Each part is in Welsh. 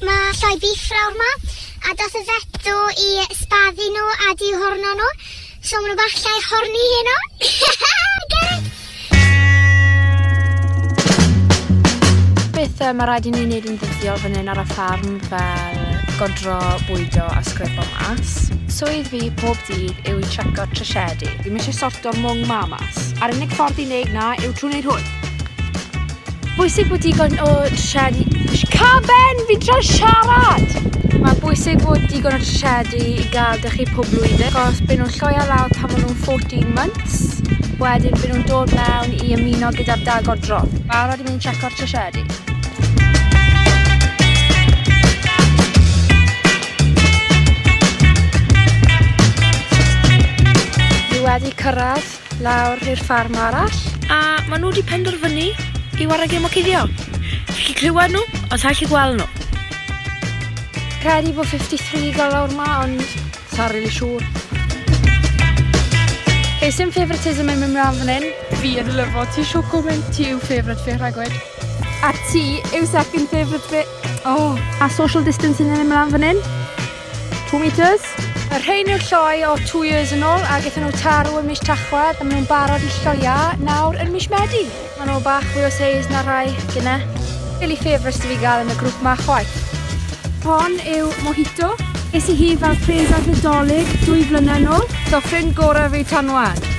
Mae lloi biff lawr ma, a dath y vet do i sbaddu nhw a di horno nhw, so maen nhw bach llai horni heno. Get it? Beth uh, mae rhaid i ni wneud yn ddyddiol fan hyn ar y ffarm fel godro, bwydo a sgrifo mas. Swydd fi pob dydd yw i treco tryshedu. Ddim eisiau sorto'r mwng ma mas. A'r unig ffordd i wneud na yw trwy wneud hwn. Bwysig bod digon o tryshedu... Caben! Fi'n trio siarad! Mae'n bwysig bod digon o tryshedu i gael dych chi pob blwyddyn, achos byd nhw'n lloio lawr pan maen nhw'n 14 months, wedyn byd nhw'n dod mewn i ymuno gyda'r dagor drom. Mae'n rhaid i mynd checo'r tryshedu. wedi cyrraedd. Lawr i'r ffarm arall. A ma nhw wedi penderfynu i warau gêm o cuddio. Chi clywed nhw, ond sa'n chi gweld nhw. Credu bod 53 gael lawr ma, ond sa'n rili siŵr. Hei, sy'n favouritism yn mynd mlaen fan hyn? Fi yn lyfo, ti siw gwmyn, ti yw favourite fi rhagwyd. A ti yw second favourite fi. Oh. A social distancing yn mynd mlaen fan hyn? Two metres. Y rhein yw'r lloi o two years yn ôl a gyda nhw tarw yn mis Tachwedd a maen nhw'n barod i lloia nawr yn mis Medi. Maen nhw bach fwy o seis na rhai gyna. Really favourites dwi gael yn y grŵp ma chwaith. Hon yw Mojito. Es i hi fel pres ar Nadolig dwy flynedd yn ôl. So ffrind gorau fi tan wan.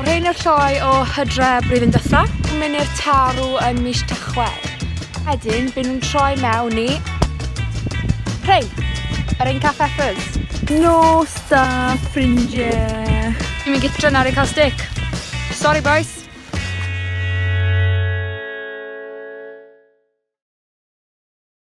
Rhain yw'r lloi o hydre blwyddyn dytha. Mynnu'r tarw yn mis Tachwedd. Wedyn, byn nhw'n troi mewn i... Rhain! Yr ein caff effers. Nos da, ffrindiau! Dwi'n mynd gytra nawr i cael stick. Sorry, boys!